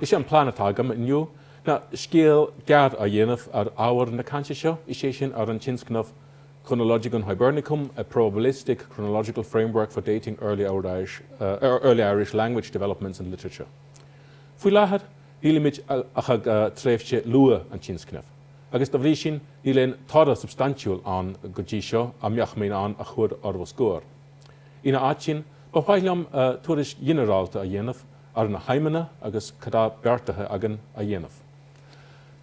Is é an plean atá agam inniu ná scéal gearr a dhéanamh ar ábhar na cainte seo, is é sin ar an tionscnamh Chronologicon Hibernicum, A Probabilistic Chronological Framework for Dating Early Irish Language Developments and Literature. Faoi láthair, nílimid ach ag tréimhse luath an tionscnaimh, agus dá bhrí sin níl aon toradh substaintiúil ann go dtí seo a mbeadh mé in ann a chur os bhur gcomhair. Ina áit sin, ba mhaith liom tuairisc ghinearálta a dhéanamh ar na haidhmeanna agus cad tá beartaithe againn a dhéanamh.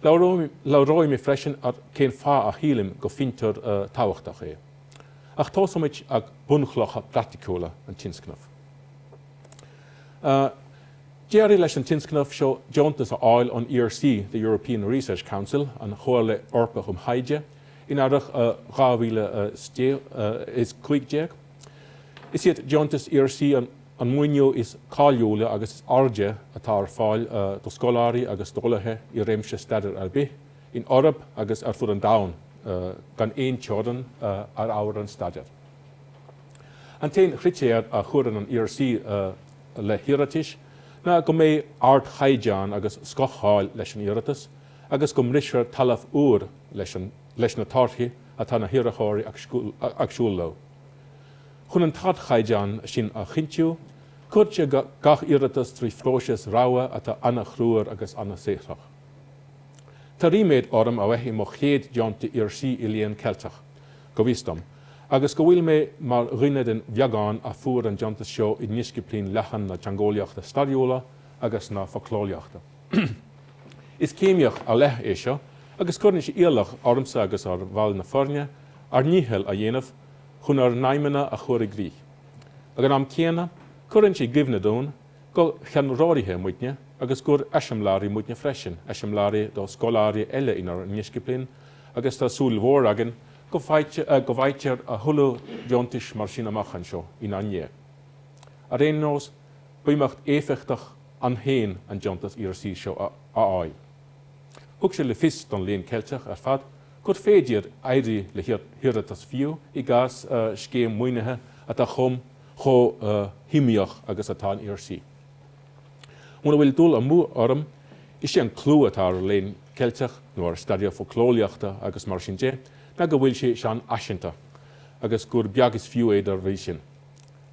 Labhróidh mé freisin ar cén fáth a shílim gur fiontar tábhachtach é. Ach tósóimid ag bunchlocha praiticiúla an tionscnaimh. D'éirigh leis an tionscnamh seo deontas a fháil ón ERC, the European Research Council, An Chomhairle Eorpach um Thaighde, in earrach 2015. Is iad deontais ERC an maoiniú is cáiliúla agus is airde atá ar fáil do scoláirí agus d'eolaithe i réimse staidéir ar bith, in Eoraip agus ar fud an domhain, gan aon teorann ar ábhar an staidéir. An t-aon chritéar a chuireann an ERC le hiarratais ná go mbeidh ardchaighdeán agus scoth-cháil leis an iarratas, agus go mbrisfear talamh úr leis na torthaí atá na hiarrthóirí ag súil leo. Chun an t-ardchaighdeán sin a chinntiú, cuirtear gach iarratas trí phróiseas rogha atá an-chruaidh agus an-saothrach. Tá ríméad orm a bheith i mo chéad deontaí ERC i Léann Ceilteach, go bhfios dom, agus go bhfuil mé mar dhuine den bheagán a fuair an deontas seo i ndisciplín leathan na teangeolaíochta stairiúla agus na focleolaíochta. Is céimíocht ar leith é seo agus cuireann sé iallach ormsa agus ar bhaill na foirne ár ndícheall a dhéanamh chun ár n-aidhmeanna a chur i gcrích. Ag an am céanna, cuireann sé i gcuimhne dúinn gur cheannródaithe muidne agus gur eiseamláirí muidne freisin, eiseamláirí do scoláirí eile inár ndisciplín agus tá súil mhór againn go bhfaightear a thuilleadh deontais mar sin amach anseo inár ndiaidh. Ar aon nós, b'imeacht éifeachtach ann féin an deontas ERC seo a fháil. Thug sé le fios don Léann Ceilteach ar fad gur féidir éirí le hiarratas fiú i gcás scéim maoinithe atá chomh chomh hiomaíoch agus atá an ERC. Muna bhfuil dul amú orm, is é an clú atá ar Léann Ceilteach, nó ar staidéar focleolaíochta agus mar sin de, ná go bhfuil sé seanfhaiseanta, agus gur beag is fiú é dá bhrí sin.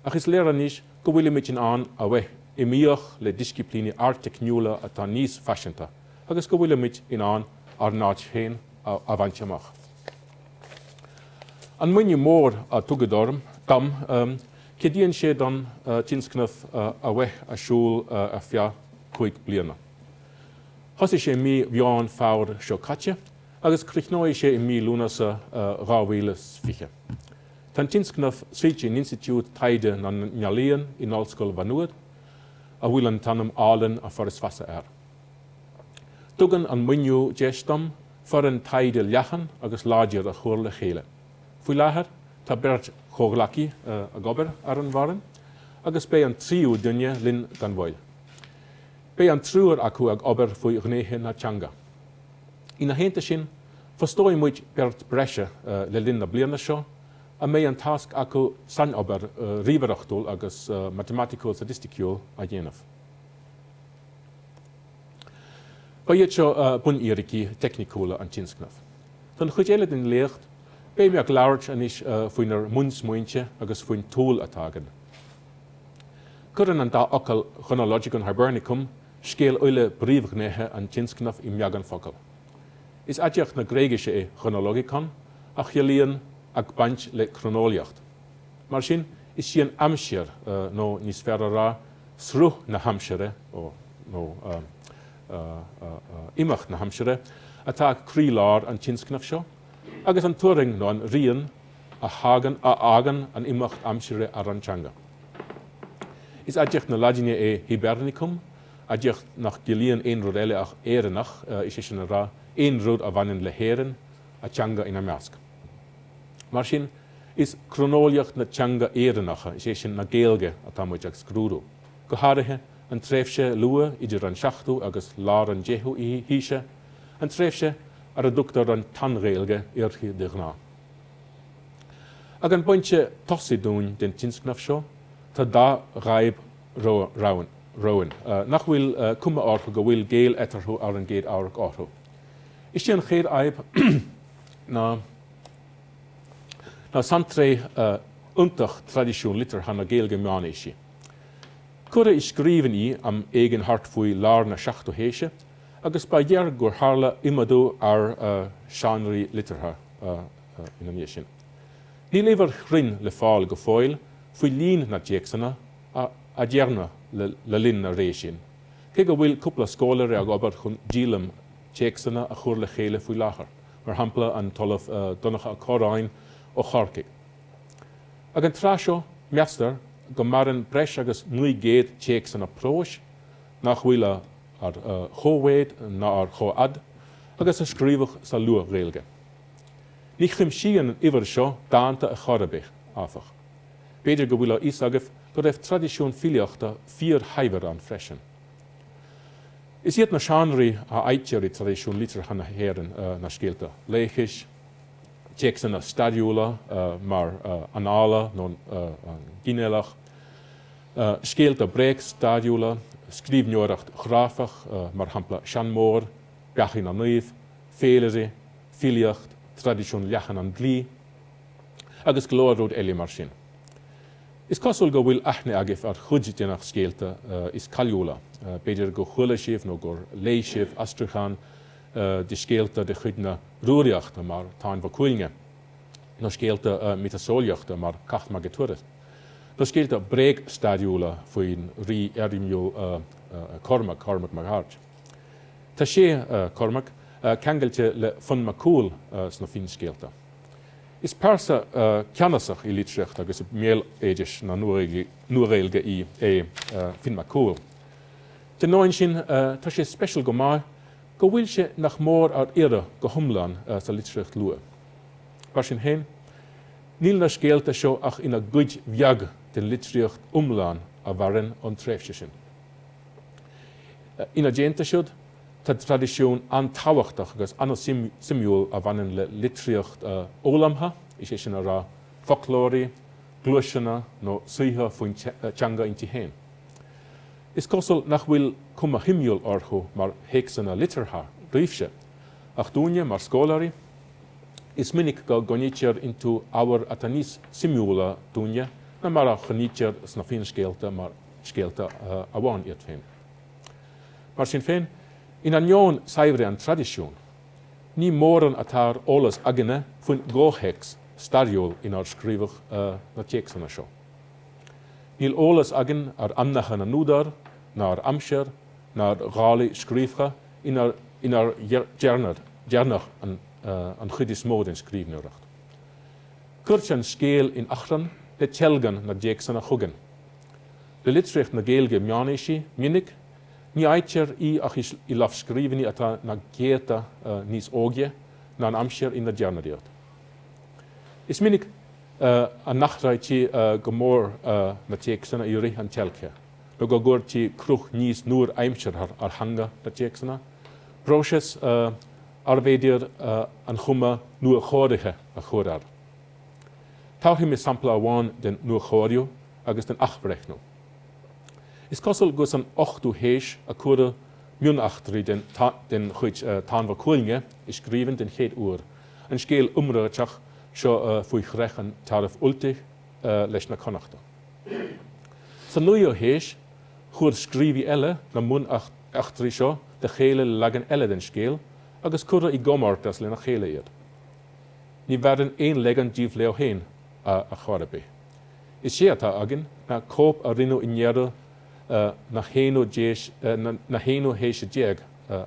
Ach is léir anois go bhfuilimid in ann a bheith iomaíoch le disciplíní ardteicniúla atá níos faiseanta agus go bhfuilimid in ann ár n-áit féin a bhaint amach. An maoiniú mór a tugadh dom, ceadaíonn sé don tionscnamh a bheith ar siúl ar feadh cúig bliana. Thosaigh sé mí Mheán Fómhair seo caite agus críochnóidh sé i mí Lúnasa 2020. Tá an tionscnamh suite in Institiúid Taighde na nEalaíon in Ollscoil Mhá Nuad, a bhfuil an t-ainm álainn An Foras Feasa air. Tugann an maoiniú deis dom foireann taighde leathan agus láidir a chur le chéile. Faoi láthair, tá beirt chomhghleacaí ag obair ar an bhfoireann, agus beidh an tríú duine linn gan mhoill. Beidh an triúr acu ag obair faoi ghnéithe na teanga. Ina theannta sin, fostóidh muid beirt breise le linn na bliana seo a mbeidh an tasc acu sainobair ríomhaireachtúil agus matamaiticiúil-staitisticiúil a dhéanamh. Ba iad seo bunfhíricí teicniciúla an tionscnaimh. Don chuid eile den léacht, beidh mé ag labhairt anois faoinár mbunsmaointe agus faoin tsúil atá againn. Cuireann an dá fhocal 'Chronologicon Hibernicum' scéal uile phríomhghnéithe an tionscnaimh i mbeagán focal. Is aidiacht na Gréigise é chronologikon, a chiallaíonn ag baint le croineolaíocht. Mar sin, is í an aimsir, nó níos fearr a rá, sruth na haimsire, nó imeacht na haimsire, atá ag croílár an tionscnaimh seo. agus an turraing nó an rian a fhágann an imeacht aimsire ar an teanga. Is aidiacht na Laidine é Hibernicum, aidiacht nach gciallaíonn aon rud eile ach Éireannach, is é sin le rá, aon rud a bhaineann le hÉirinn, a teanga ina measc. Mar sin, is croineolaíocht na teanga Éireannacha, is é sin, na Gaeilge, atá muid ag scrúdú, go háirithe an tréimhse luath idir an 7ú agus lár an 10ú haoise, an tréimhse ar a dtugtar an tSean-Ghaeilge uirthi de ghnáth. Ag an bpointe tosaigh dúinn den tionscnamh seo, tá dhá fhadhb romhainn nach bhfuil cuma orthu go bhfuil gaol eatarthu ar an gcéad amharc orthu. Is é an chéad fhadhb ná saintréith iontach traidisiún liteartha na Gaeilge meánaoisí. Cuireadh i scríbhinn í am éigin thart faoi lár na seachtú haoise, agus ba ghearr gur tharla iomadú ar seánraí liteartha ina ndiaidh sin. Níl uimhir chruinn le fáil go fóill faoi líon na dtéacsanna a dearnadh le linn na ré sin, cé go bhfuil cúpla scoláire ag obair chun díolaim téacsanna a chur le chéile faoi láthair, mar shampla an tOllamh Donncha Ó Corráin ó Chorcaigh. Ag an tráth seo, meastar go maireann breis agus 900 téacsanna próis, nach bhfuil ar chomhmhéid ná ar chomhfhad agus a scríobhadh sa Luath-Ghaeilge. Ní chuimsíonn an uimhir seo dánta ar chor ar bith, áfach. B'fhéidir go bhfuil a fhios agaibh go raibh traidisiún filíochta fíorshaibhir ann freisin. Is iad na seánraí a fhaightear i dtraidisiún liteartha na hÉireann ná scéalta laochais, téacsanna stairiúla mar Annála nó ginealach, Scéalta bréagstairiúla, scríbhneoireacht chráifeach, mar shampla seanmóir, Beathaí na Naomh, féilirí, filíocht, traidisiún leathan an dlí, agus go leor rud eile mar sin. Is cosúil go bhfuil aithne agaibh ar chuid de na scéalta is cáiliúla, b'fhéidir gur chuala sibh nó gur léigh sibh aistriúchán de scéalta de chuid na Rúraíochta mar Táin Bó Cúailnge, nó scéalta miotaseolaíochta mar Cath Maige Tuired. Nó scéalta bréagstairiúla faoin rí éirimiúil Cormac, Cormac Mac Airt. Tá sé, Cormac, ceangailte le Fionn Mac Cumhaill sna finscéalta. Is pearsa ceannasach i litríocht agus i mbéaloideas na Nua-Ghaeilge í é Finn Mac Cumhaill. Dá ainneoin sin, tá sé speisialta go maith go bhfuil sé nach mór ar iarraidh go hiomlán sa litríocht luath. Mar sin féin, Níl na scéalta seo ach ina gcuid bheag den litríocht iomlán a mhaireann ón tréimhse sin. Ina dteannta siúd, tá traidisiún an-tábhachtach agus an-suimiúil a bhaineann le litríocht fhoghlamtha, is é sin a rá, foclóirí, gluaiseanna nó saothar faoin teanga inti féin. Is cosúil nach bhfuil cuma shuimiúil orthu mar théacsanna liteartha daoibhse, ach dúinne, mar scoláirí, Is minic go gcoinnítear iontu ábhar atá níos suimiúla dúinne ná mar a choinnítear sna finscéalta mar scéalta amháin iad féin. Mar sin féin, in ainneoin saibhre an traidisiúin, ní mórán atá ar eolas againne faoin gcomhthéacs stairiúil inar scríobhadh na téacsanna seo. Níl eolas againn ar ainmneacha na n-údar, ná ar aimsir, ná ar dhálaí scríofa, inar dearnadh an chuid is mó den scríbhneoireacht. Cuirtear an scéal in achrann le teilgean na dtéacsanna chugainn. Le litríocht na Gaeilge meánaoisí go, minic, ní fhaightear í ach i lámhscríbhinní atá na céadta níos óige ná an aimsir inar dearnadh iad. Is minic a n-athraítí go mór na téacsanna i rith an teilgthe. nó go gcuirtí cruth níos nuaaimseartha ar theanga na dtéacsanna, próiseas arbh fhéidir an chuma nuachóirithe a chur air. Tabharfaidh mé sampla amháin den nuachóiriú agus den athbhreithniú. Is cosúil gur san ochtú haois a cuireadh mioneachtraí den chuid Táin Bó Cuailnge i scríbhinn den chéad uair, an scéal iomráiteach seo faoi chreich an Tairbh Ultaigh leis na Connachta. Sa naoú haois, chuir scríobhaí eile na mioneachtraí seo le chéile le leagan eile den scéal agus cuireadh i gcomórtas lena chéile iad. Ní mhaireann aon leagan díobh leo féin a chor ar bith. Is é atá againn ná cóip a rinneadh i ndeireadh na haonú haoise déag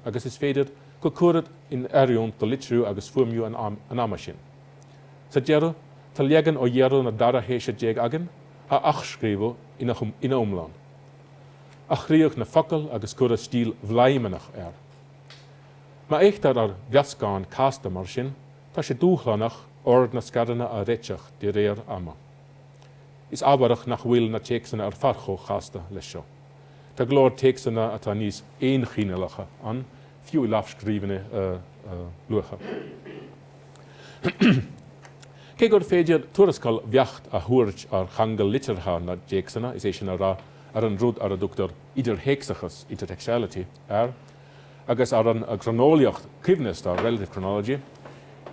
agus is féidir gur cuireadh in oiriúint do litriú agus fuaimniú an ama sin. Sa deireadh, tá leagan ó dheireadh na dara haoise déag againn, a athscríobhadh ina iomlán. Athraíodh na focail agus cuireadh stíl bhladhmannach air. Má fhéachtar ar mheascán casta mar sin, tá sé dúshlánach ord na scaireanna a réiteach de réir ama. Is ámharach nach bhfuil na téacsanna ar fad chomh casta leis seo. Tá go leor téacsanna atá níos aonchineálacha ann, fiú i lámhscríbhinni luatha. Cé gur féidir tuarascáil bheacht a thabhairt ar cheangal liteartha na dtéacsanna, is é sin a rá, ar an rud ar a dtugtar 'idirthéacsachas', intertextuality, air, agus ar an gcroineolaíocht choibhneasta, relative chronology,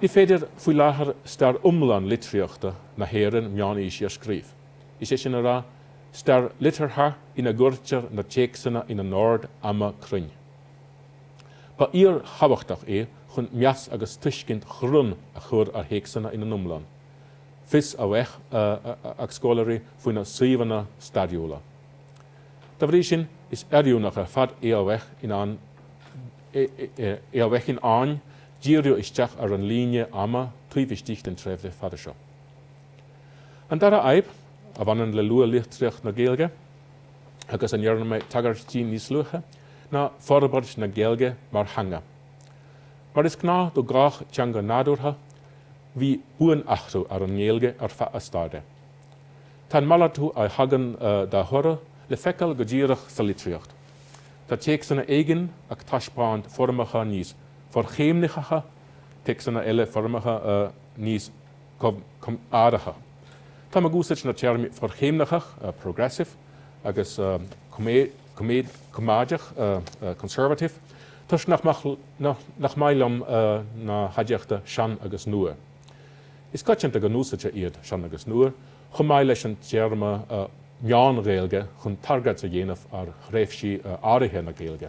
ní féidir faoi láthair stair iomlán litríochta na hÉireann meánaoisí a scríobh, is é sin a rá, stair liteartha ina gcuirtear na téacsanna ina n-ord ama cruinn. Ba fhíorthábhachtach é chun meas agus tuiscint chruinn a chur ar théacsanna ina n-iomlán. Fios a bheith ag scoláirí faoina suíomhanna stairiúla. Dá bhrí sin, is oiriúnach ar fad é a bheith in ann díriú isteach ar an líne ama taobh istigh den tréimhse fada seo. An dara fhadhb a bhaineann le luath-litríocht na Gaeilge. agus a ndearna mé tagairt di níos luaithe, ná forbairt na Gaeilge mar theanga. Mar is gnáth do gach teanga nádúrtha, bhí buanathrú ar an nGaeilge ar feadh a staire. Tá an malartú a thagann dá thoradh le feiceáil go díreach sa litríocht. Tá téacsanna éigin ag taispeáint foirmeacha níos forchéimnitheacha, téacsanna eile foirmeacha níos. coimeádacha. Táim ag úsáid na téarmaí forchéimnitheach, progressive, agus coimeádach, conservative, toisc nach maith liom na haidiachta sean agus nua. Is coitianta go n-úsáidtear iad, sean agus nua, chomh maith leis an téarma Meán-Ghaeilge chun tagairt a dhéanamh ar thréimhsí áirithe na Gaeilge.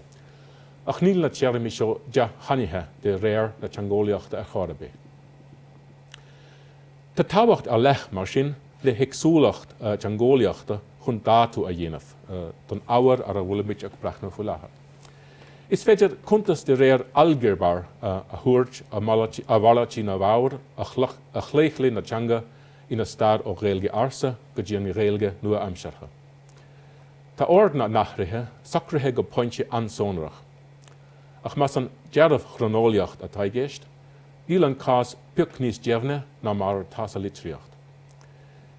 Ach níl na téarmaí seo dea-shainithe de réir na teangeolaíochta ar chor ar bith. Tá tábhacht ar leith, mar sin, le héagsúlacht teangeolaíochta chun dátú a dhéanamh don ábhar ar a bhfuilimid ag breathnú faoi láthair. Is féidir cuntas de réir ailgéabar a thabhairt ar mhalairtí na bhfoghar a chlaochlaigh na teanga ina stair ó Ghaeilge Ársa go dtí an Ghaeilge nua-aimseartha. Tá ord na n-athruithe socraithe go pointe an-sonrach, ach más an dearbh-chroineolaíocht atá i gceist, Níl an cás pioc níos deimhne ná mar atá sa litríocht.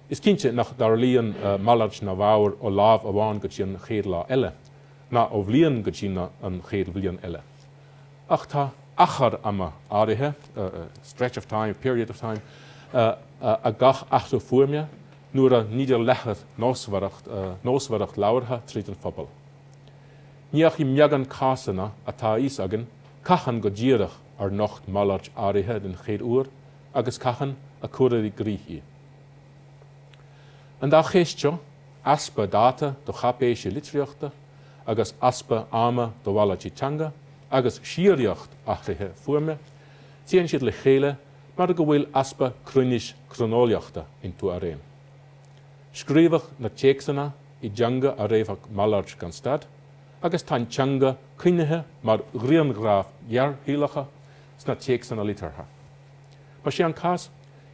Is cinnte nach dtarlaíonn malairt na bhfoghar ó lá amháin go dtí an chéad lá eile, ná ó bhliain go dtí an chéad bhliain eile. Ach tá achar ama áirithe, stretch of time, period of time, ag gach athrú fuaime nuair a nítear leathadh nósmhaireacht labhartha tríd an phobal. Ní ach i mbeagán cásanna atá a fhios againn cathain go díreach ar nocht malairt áirithe den chéad uair agus cathain a cuireadh i gcrích í. An dá cheist seo, easpa dáta do cháipéisí litríochta agus easpa ama do mhalairtí teanga agus síoraíocht athruithe fuaime, téann siad le chéile mar go bhfuil easpa cruinnis cróineolaíochta iontu araon. Scríobhadh na téacsanna i dteanga a raibh ag malairt gan stad, agus tá an teanga coinnithe mar ghrianghraif ghearrshaolacha sna téacsanna liteartha. Más é an cás,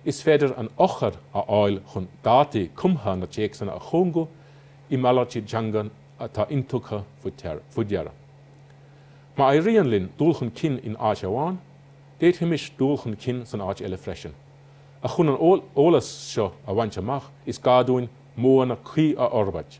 is féidir an eochair a fháil chun dátaí cumtha na téacsanna a chúngú i malairtí teanga atá intugtha faoi deara. Má éiríonn linn dul chun cinn in áit amháin, d'fhéadfaimis dul chun cinn san áit eile freisin, ach chun an t-eolas seo a bhaint amach, is gá dúinn modhanna cuí a fhorbairt.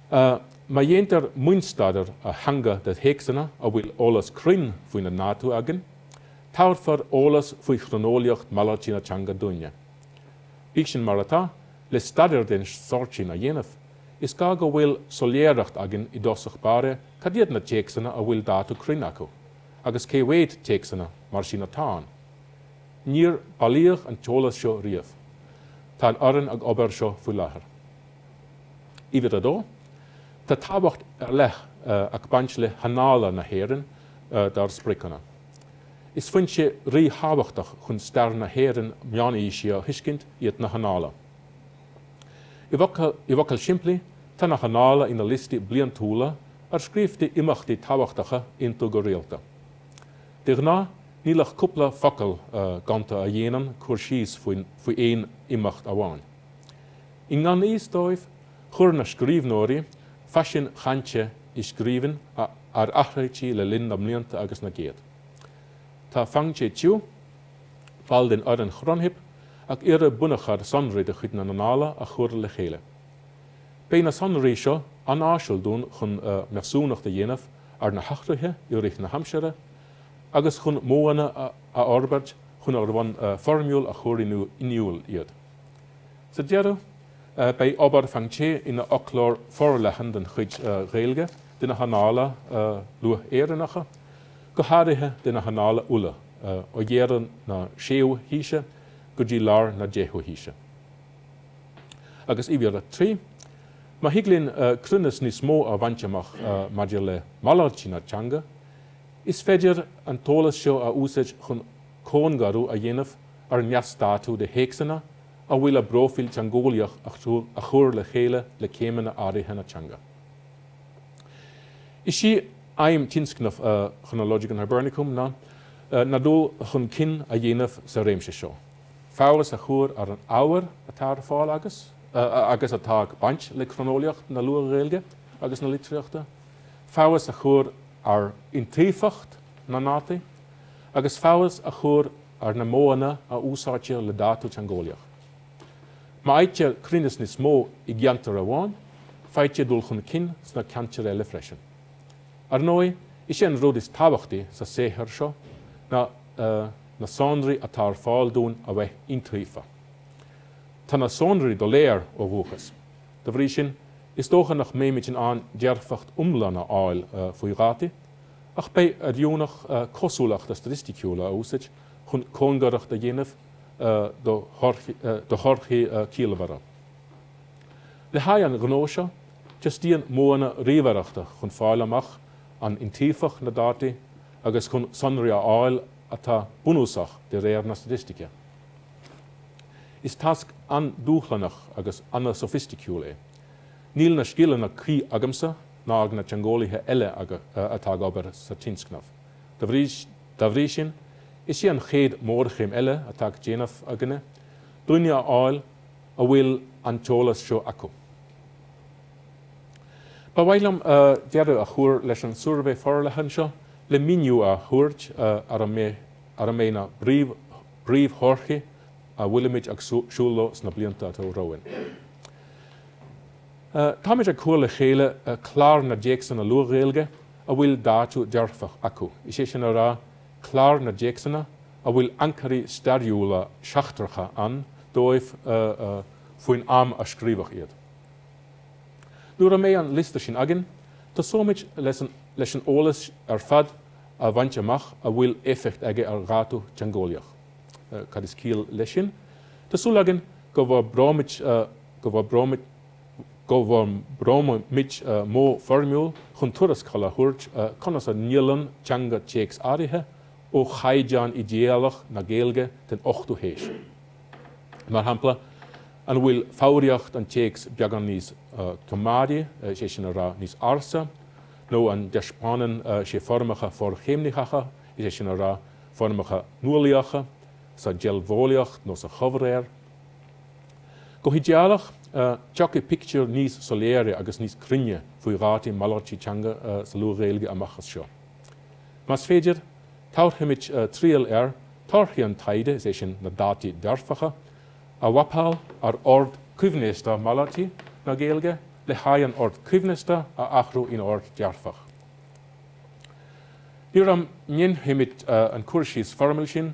Má dhéantar mionstaidéar ar theanga de théacsanna a bhfuil eolas cruinn faoina ndátú againn, tabharfar eolas faoi chroineolaíocht malairtí na teanga dúinn. Bíodh sin mar atá, le staidéar den sórt sin a dhéanamh, is gá go bhfuil soiléireacht againn i dtosach báire cad iad na téacsanna a bhfuil dátú cruinn acu, agus cé mhéad téacsanna mar sin atá ann. Níor bailíodh an t-eolas seo riamh. Tá an fhoireann ag obair ar seo faoi láthair. Uimhir a dó, tá tábhacht ar leith ag baint le hAnnála na hÉireann dár spriocanna. Is foinse ríthábhachtach chun stair na hÉireann meánaoisí a thuiscint iad na hAnnála. I bhfocail shimplí, tá na hAnnála ina liostaí bliantúla ar scríobhtaí imeachtaí tábhachtacha iontu go rialta. De ghnáth, níl ach cúpla focal gonta a dhéanann cur síos faoi aon imeacht amháin. I ngan fhios dóibh, chuir na scríbhneoirí faisin chainte i scríbhinn a athraítí le linn na mblianta agus na gcéad. Tá Fangzhe Qiu, ball den fhoireann ChronHib, ag iarraidh bunachar sonraí de chuid na n-annála a chur le chéile. Beidh na sonraí seo an-áisiúil dúinn chun measúnacht a dhéanamh ar na hathruithe i rith na haimsire agus chun modhanna a fhorbairt chun ar bhonn foirmiúil a chur in iúl iad. Sa deireadh, beidh obair Fangzhe ina fhoclóir forleathan den chuid Ghaeilge de na hannála luath-Éireannacha, go háirithe de na hannála Uladh, ó dheireadh na séú haoise go dtí lár na deichiú haoise. Agus uimhir a trí, má thig linn cruinneas níos mó a bhaint amach maidir le malairtí na teanga, is féidir an t-eolas seo a úsáid chun cóngarú a dhéanamh ar neasdátú de théacsanna a bhfuil a bpróifíl teangeolaíoch a chur le chéile le céimeanna áirithe na teanga. Is é aidhm tionscnamh Chronologicon Hibernicum ná dul chun cinn a dhéanamh sa réimse seo, feabhas a chur ar an ábhar atá ar fáil agus atá ag baint le croineolaíocht na Luath-Ghaeilge agus na litríochta, feabhas a chur ar iontaofacht na ndátaí, agus feabhas a chur ar na modhanna a úsáidtear le dátú teangeolaíoch. Má fhaightear cruinneas níos mó i gceantar amháin, faightear dul chun cinn sna ceantair eile freisin. Ar ndóigh, is é an rud is tábhachtaí sa saothar seo ná na sonraí atá ar fáil dúinn a bheith iontaofa. Tá na sonraí doiléir ó dhúchas, dá bhrí sin, is dócha nach mbeimid in ann dearfacht iomlán a fháil faoi dhátaí, Ach beidh sé oiriúnach cosúlachta staitisticiúla a úsáid chun cóngaracht a dhéanamh do thorthaí ciallmhara. Le haghaidh an ghnó seo, teastaíonn modhanna ríomhaireachta chun fáil amach an iontaofach na dátaí agus chun sonraí a fháil atá bunúsach de réir na staitistice. Is tasc an-dúshlánach agus an-sofaisticiúil é. Níl na scileanna cuí agamsa ná ag na teangeolaithe eile atá ag obair sa tionscnamh. Dá bhrí sin, is é an chéad mhórchéim eile atá le déanamh againne, daoine a fháil a bhfuil an t-eolas seo acu. Ba mhaith liom deireadh a chur leis an suirbhé forleathan seo le míniú a thabhairt ar a mbeidh na bpríomhthorthaí a bhfuilimid ag súil leo sna blianta atá romhainn. Táimid ag cur le chéile clár na dtéacsanna Luath-Ghaeilge a bhfuil dátú dearfach acu, is é sin a rá, clár na dtéacsanna a bhfuil ancairí stairiúla seachtracha ann dóibh faoin am a scríobhadh iad. Nuair a mbeidh an liosta sin againn, tosóimid leis an eolas ar fad a bhaint amach a bhfuil éifeacht aige ar dhátú teangeolaíoch. Cad is ciall leis sin? Tá súil againn go bhforbróimid. go bhforbróimid modh foirmiúil chun tuarascáil a thabhairt conas a ndiallann teanga téacs áirithe ó chaighdeán idéalach na Gaeilge den ochtú haois. Mar shampla, an bhfuil foghraíocht an téacs beagán níos coimeádaí, is é sin a rá, níos ársa, nó an dtaispeánann sé foirmeacha forchéimnitheacha, is é sin a rá, foirmeacha nuálaíocha, sa deilbheolaíocht nó sa chomhréir? Go hidéalach, tiocfaidh pictiúr níos soiléire agus níos cruinne faoi dhátaí malairtí teanga sa Luath-Ghaeilge amach as seo. Más féidir, tabharfaimid triail ar torthaí an taighde, is é sin, na dátaí dearfacha, a mhapáil ar ord coibhneasta malairtí na Gaeilge le haghaidh an ord coibhneasta a athrú in ord dearfach. Nuair a ndéanfaimid an cur síos foirmiúil sin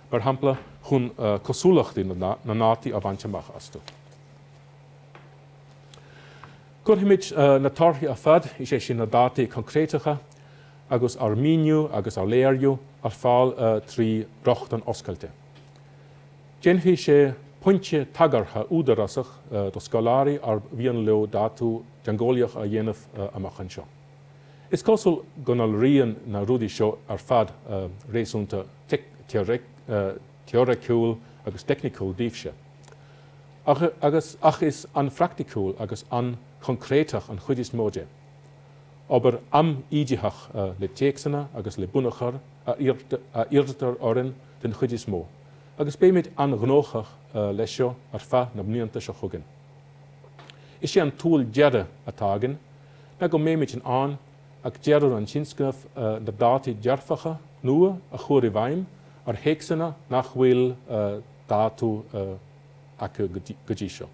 mar shampla, chun cosúlachtaí na ndátaí a bhaint amach astu. Cuirfimid na torthaí ar fad, is é sin na dátaí coincréiteacha agus ár míniú agus ár léiriú, ar fáil trí rochtain oscailte. Déanfaidh sé pointe tagartha údarásach do scoláirí arb mhian leo dátú teangeolaíoch a dhéanamh amach anseo. Is cosúil go ndealraíonn na rudaí seo ar fad réasúnta teoiriciúil agus teicniciúil daoibhse, agus ach is an-phraicticiúil agus an-choncréiteach an chuid is mó de. Obair am-íditheach le téacsanna agus le bunachar a iarrtar orainn den chuid is mó, agus beimid an-ghnóthach leis seo ar feadh na mblianta seo chugainn. Is é an tsúil deireadh atá againn ná go mbeimid in ann ag deireadh an tionscnaimh na dátaí dearfacha nua a chur i bhfeidhm ar théacsanna nach bhfuil dátú acu go dtí seo.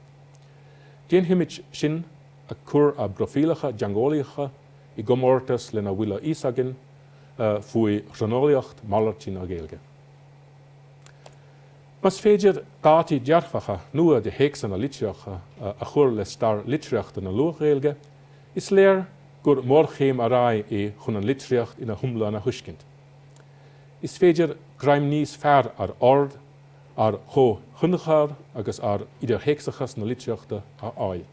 Déanfaimid sin ag cur ár bpróifíleacha teangeolaíocha i gcomórtas lena bhfuil a fhios againn faoi chroineolaíocht malairtí na Gaeilge. Más féidir dátaí dearfacha nua de théacsanna litreacha a chur le stair litríochta na Luath-Ghaeilge, is léir gur mórchéim ar aghaidh é chun an litríocht ina hiomlán a thuiscint. Is féidir greim níos fearr ar ord, ar chomhthionchar agus ar idirthéacsachas na litríochta a fháil.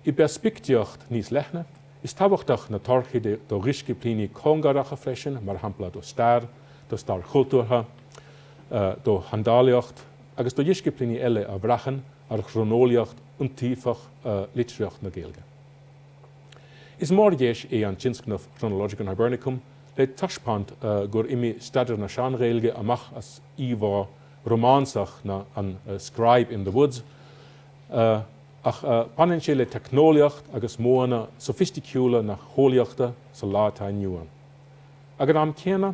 I bpeirspictíocht níos leithne, is tábhachtach na torthaí do dhisciplíní cóngaracha freisin, mar shampla do stair, do stair chultúrtha, do sheandálaíocht agus do dhisciplíní eile a bhraitheann ar chróineolaíocht iontaofach litríocht na Gaeilge. Is mórdheis é an tionscnamh Chronologicon Hibernicum le taispeáint gur imigh staidéar na Sean-Ghaeilge amach as íomhá rómánsach na an Scribe in the Woods ach baineann sé le teicneolaíocht agus modhanna sofaisticiúla na heolaíochta sa lá atá inniu ann. Ag an am céanna,